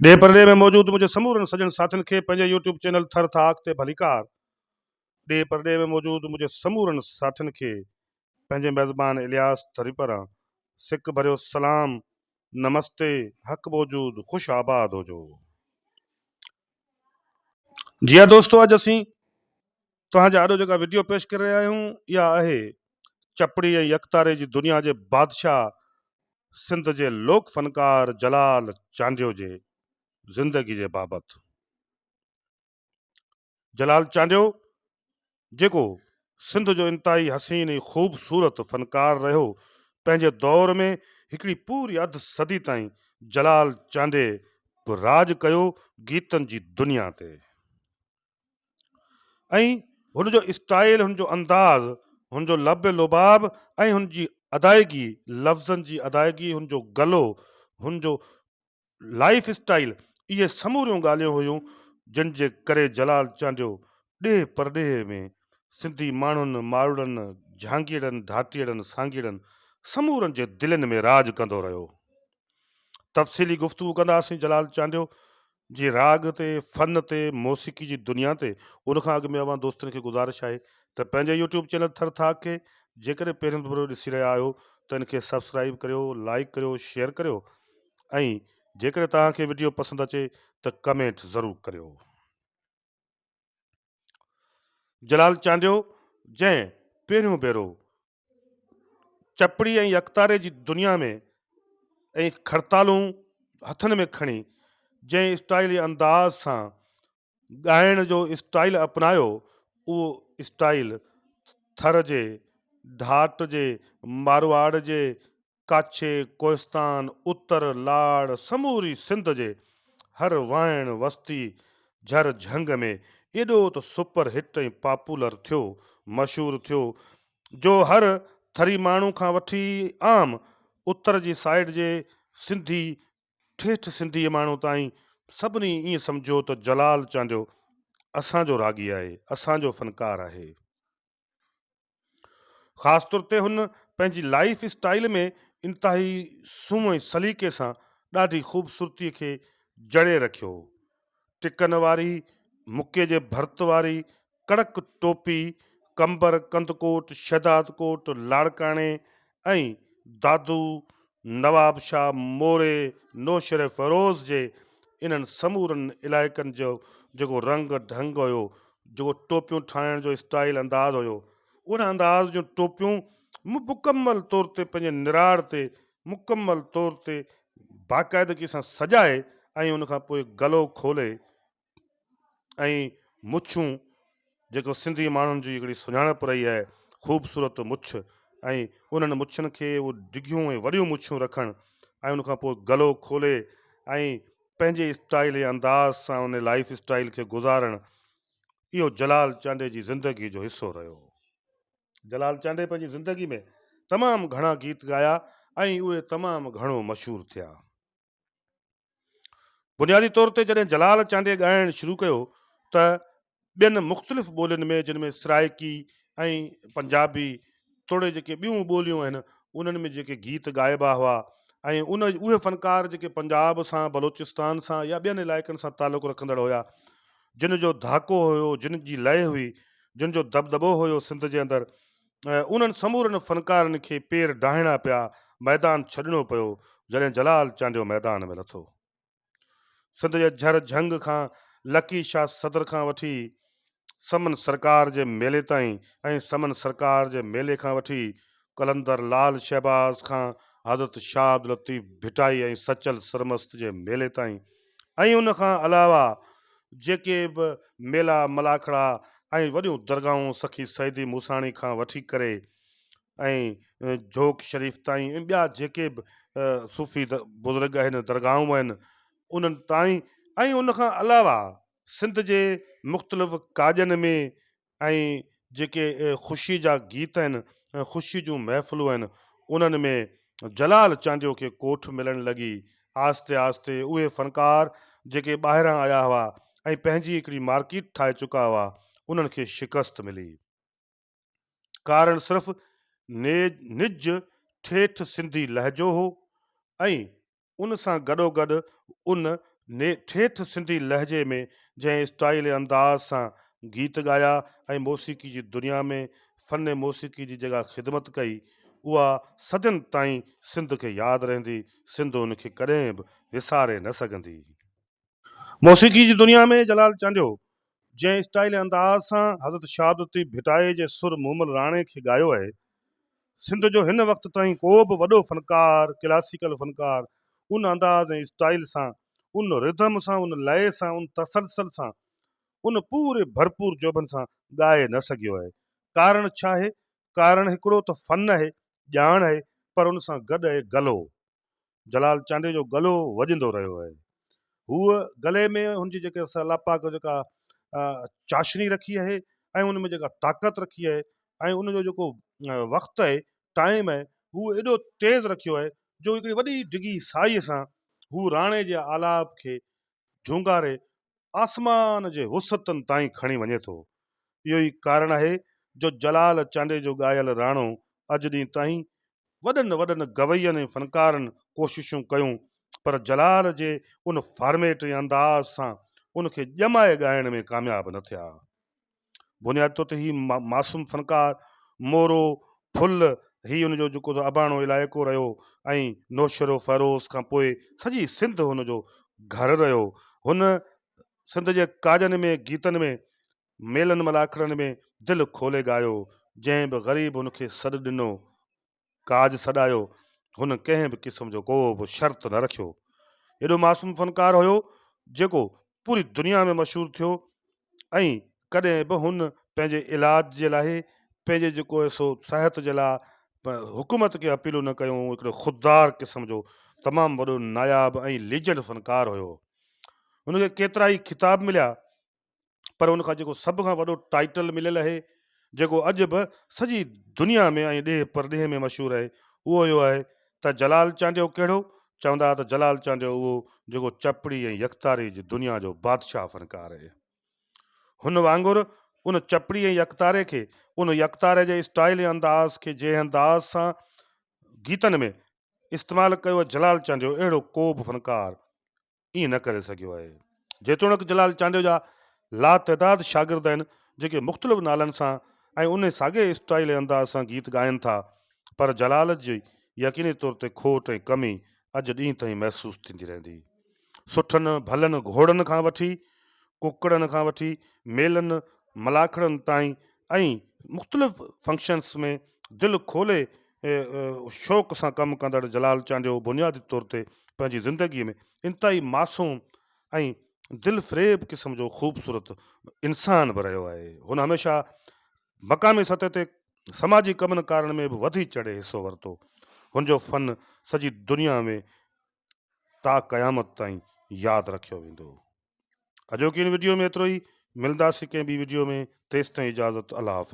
ڏيهه پرڏيهه ۾ موجود منهنجي سمورن سڄڻ ساٿين کي پنهنجي يوٽيوب چينل ٿر ٿاڪ تي ڀليڪار ڏيهه پرڏيهه ۾ موجود منهنجي سمورن ساٿين کي پنهنجي ميزبان الياس ٿري پران سڪ ڀريو سلام نمستي حق موجود خوش آباد هجو جي ها دوستو اڄ اسين توهان جي آڏو جيڪا وڊيو پيش ڪري رهيا آهيون اها آهي چپڙي ۽ يڪتاري جي دنيا جي بادشاهه سنڌ جي لوڪ فنڪار جلال چانڊيو جي زندگي جي بابت جلال چانڊيو جيڪو سنڌ جو انتهائي حسين ۽ خوبصورت فنڪار رهيو پنهنجي دور ۾ هڪڙي پوري اڌ صدي تائين جلال چانڊي به راڄ ڪيو گيتن جي دنيا تي ۽ هن جو اسٽائيل، هن جو انداز، هن جو لب لباب ۽ هن جي ادائگي، لفظن جي ادائگي، هن جو گلو، هن جو لائيف اسٽائيل، اهي سموريون ڳالهيون هيون جن جي ڪري جلال چانڊيو ڏيهه پرڏيهه ۾ سنڌي ماڻهن، ماروئڙن، جهانگيئڙن، ڌاٽيئڙن، سانگيئڙن سمورن جي دلين ۾ راڄ ڪندو رهيو. تفصيلي گفتگو ڪنداسين جلال چانڊيو جي راڳ تي، فن تي، موسيقي جي دنيا تي ان کان اڳ ۾ اوهان دوستن کي گذارش آهي ته پنهنجي يوٽيوب چينل ٿر ٿاڪ کي جيڪڏهن پهرين ڀيرو ڏسي رهيا آهيو ته ان کي سبسڪرائيب ڪريو، لائيڪ ڪريو، شيئر ڪريو ۽ جيڪڏهن توهان کي وڊيو پسند اچي ته ڪمينٽ ضرور ڪريو. جلال چانڊيو جنهن پهريون ڀيرو چپڙي ۽ اڪتاري جي دنيا ۾ ۽ کڙتالون هٿن ۾ کڻي جنهن اسٽائيل ۽ انداز سان ڳائڻ جو اسٽائيل اپنايو اهو اسٽائيل ٿر جي ڍاٽ جي مارواڙ جي ڪاڇي، ڪوهستان، اتر، لاڙ، سموري سنڌ جي هر وائڻ، وستي، جھر جھنگ ۾ ايڏو ته سپر هٽ ۽ پاپولر ٿيو، مشهور ٿيو جو هر ٿري ماڻهو کان وٺي عام اتر جي سائيڊ جي سنڌي، ٺيٺ سنڌي ماڻهو تائين سڀني ائين سمجهيو ته جلال چانڊيو اسان جو راڳي آهي، اسان جو فنڪار آهي. خاص طور تي هن پنهنجي لائيف اسٽائيل ۾ انتهائي سنهو ۽ سليقي سان ڏاڍي خوبصورتي کي جڙي رکيو هو. ٽڪن واري مڪي جي ڀرت واري ڪڙڪ ٽوپي، قمبر، ڪنڌڪوٽ، شهدادڪوٽ، لاڙڪاڻي ۽ دادو، نواب شاهه موري، نوشهروفيروز جي انهن سمورن علائقن جو جيڪو رنگ ڍنگ هيو، جيڪو ٽوپيون ٺاهڻ جو اسٽائيل انداز هيو، ان انداز جون ٽوپيون مڪمل طور تي پنهنجي نراڙ تي مڪمل طور تي باقاعدگي سان سجائي ۽ ان کان پوء گلو کولي ۽ مڇون جيڪو سنڌي ماڻهن جي هڪڙي سڃاڻپ رهي آهي خوبصورت مڇ ۽ انهن مڇن کي اهو ڊگهيون ۽ وڏيون مڇون رکڻ ۽ ان کان پوء گلو کولي ۽ پنهنجي اسٽائيل ۽ انداز سان ان لائيف اسٽائيل کي گذارڻ اهو جلال چانڊئي جي زندگي جو حصو رهيو. جلال چانڊئي پنهنجي زندگي ۾ تمام گهڻا گيت ڳايا ۽ اهي تمام گهڻو مشهور ٿيا. بنيادي طور تي جڏهن جلال چانڊيي ڳائڻ شروع ڪيو ته ٻين مختلف ٻولين ۾ جن ۾ سرائيڪي ۽ پنجابي توڙي جيڪي ٻيون ٻوليون آهن انهن ۾ جيڪي گيت ڳائبا هئا ۽ ان اهي فنڪار جيڪي پنجاب سان بلوچستان سان يا ٻين علائقن سان تعلق رکندڙ هيا جن جو ڌاڪو هيو جن جي لئه هئي جن جو دٻدٻو هيو سنڌ جي اندر انهن سمورن فنڪارن کي پير ڊاهڻا پيا، ميدان ڇڏڻو پيو، جڏهن جلال چانڊيو ميدان ۾ لٿو. سنڌ جي جھر جھنگ کان لڪي شاھ صدر کان وٺي سمن سرڪار جي ميلي تائين ۽ سمن سرڪار جي ميلي کان وٺي قلندر لعل شهباز کان حضرت شاھ عبداللطيف ڀٽائي ۽ سچل سرمست جي ميلي تائين ۽ ان کان علاوه جيڪي به ميلا ملاکڙا ۽ وڏيون درگاهون سخي سيدي موساڻي کان وٺي ڪري ۽ جھوڪ شريف تائين ۽ ٻيا جيڪي به صوفي بزرگ اهن درگاهون اهن انهن تائين ۽ ان کان علاوه سنڌ جي مختلف ڪاڄن ۾ ۽ جيڪي خوشي جا گيت آهن، خوشي جون محفلون آهن، انهن ۾ جلال چانڊيو کي ڪوٺ ملڻ لڳي. آهستي آهستي اهي فنڪار جيڪي ٻاهران آيا هئا ۽ پنهنجي هڪڙي مارڪيٽ ٺاهي چڪا هئا، انهن کي شڪست ملي. ڪارڻ صرف نج ٺيٺ سنڌي لهجو هو ۽ ان سان گڏوگڏ ان ٺيٺ سنڌي لهجي ۾ جنهن اسٽائيل ۽ انداز سان گيت ڳايا ۽ موسيقي جي دنيا ۾ فن موسيقي جي جيڪا خدمت ڪئي اها صدين تائين سنڌ کي ياد رهندي، سنڌ ان کي ڪڏهن به وساري نه سگهندي. موسيقي جي دنيا ۾ جلال چانڊيو جنهن اسٽائيل ۽ انداز سان حضرت شهادتي ڀٽائي جي سر مومل راڻي کي ڳايو آهي، سنڌ جو هن وقت تائين ڪو به وڏو فنڪار، ڪلاسيڪل فنڪار، ان انداز ۽ اسٽائيل سان، ان رڌم سان، ان لئه سان، ان تسلسل سان، ان پوري ڀرپور جوڀن سان ڳائي نه سگهيو آهي. ڪارڻ ڇا آهي؟ ڪارڻ هڪڙو ته فن آهي، ڄاڻ آهي، پر ان سان گڏ آهي گلو. جلال چانڊيو جو گلو وڄندو رهيو آهي. هوء گلي ۾ هن جي جيڪي الله پاڪ جيڪا چاشني رکي آهي ۽ ان ۾ جيڪا طاقت رکي آهي ۽ ان جو جيڪو وقت آهي ٽائيم آهي هو ايڏو تيز رکيو آهي جو هڪڙي وڏي ڊگهي سائيء سان هو راڻي جي آلاپ کي جهونگاري آسمان جي وسعتن تائين کڻي وڃي ٿو. اهو ئي ڪارڻ آهي جو جلال چانڊيي جو ڳايل راڻو اڄ ڏينهن تائين وڏن وڏن گوين ۽ فنڪارن ڪوششون ڪيون پر جلال جي ان فارميٽ ۽ انداز سان ان کي ڄمائي ڳائڻ ۾ ڪامياب نه ٿيا. بنيادي طور تي هي معصوم فنڪار مورو ڦل هي ان جو جيڪو اباڻو علائقو رهيو ۽ نوشهرو فيروز کان پوء سڄي سنڌ هن جو گهر رهيو. هن سنڌ جي ڪاڄن ۾ گيتن ۾ ميلن ملاکڙن ۾ دل کولي ڳايو جنهن به غريب هن کي سڏ ڏنو ڪاڄ سڏايو، هن ڪنهن به قسم جو ڪو به شرط نه رکيو. ايڏو معصوم فنڪار هيو، جيڪو پوري دنيا ۾ مشهور ٿيو ۽ ڪڏهن به هن پنهنجي علاج جي لاء پنهنجي جيڪو آهي سو صحت جي لاء حڪومت کي اپيلون نه ڪيون، هو هڪڙو خوددار قسم جو تمام وڏو ناياب ۽ ليجنڊ فنڪار هيو. هن کي ڪيترائي خطاب مليا، پر ان کان جيڪو سڀ کان وڏو ٽائيٽل مليل اهي جيڪو اڄ به سڄي دنيا ۾ ۽ ڏيهه پرڏيهه ۾ مشهور اهي اهو اهو آهي ته جلال چانڊيو ڪهڙو؟ چوندا ته جلال چانڊيو اهو جيڪو چپڙي ۽ يڪتاري جي دنيا جو بادشاهه فنڪار اهي. هن وانگر ان چپڙي ۽ يڪتاري کي ان يڪتاري جي اسٽائيل ۽ انداز کي جنهن انداز سان گيتن ۾ استعمال ڪيو جلال چانڊيو اهڙو ڪو به فنڪار ائين نه ڪري سگهيو آهي. جيتوڻيڪ جلال چانڊيو جا لاتعداد شاگرد آهن جيڪي مختلف نالن سان ۽ انهي ساڳئي اسٽائيل ۽ انداز سان گيت ڳائين ٿا پر جلال جي يقيني طور تي کوٽ ۽ ڪمي اڄ ڏينهن تائين محسوس ٿيندي رهندي. سٺن ڀلن گهوڙن کان وٺي ڪڪڙن کان وٺي ميلن ملاکڙن تائين ۽ مختلف فنڪشنس ۾ دل کولي شوق سان ڪم ڪندڙ جلال چانڊيو بنيادي طور تي پنهنجي زندگي ۾ انتهائي معصوم ۽ دلفريب قسم جو خوبصورت انسان به رهيو آهي. هن هميشه مقامي سطح تي سماجي ڪمن ڪارن ۾ به وڌي چڙهي حصو ورتو. هن جو فن سڄي دنيا ۾ تا قيامت تائين ياد رکيو ويندو. اڄوڪي ان وڊيو ۾ ايترو ئي، ملنداسين ڪنهن ٻي وڊيو ۾ تيستائين اجازت الله حافظ.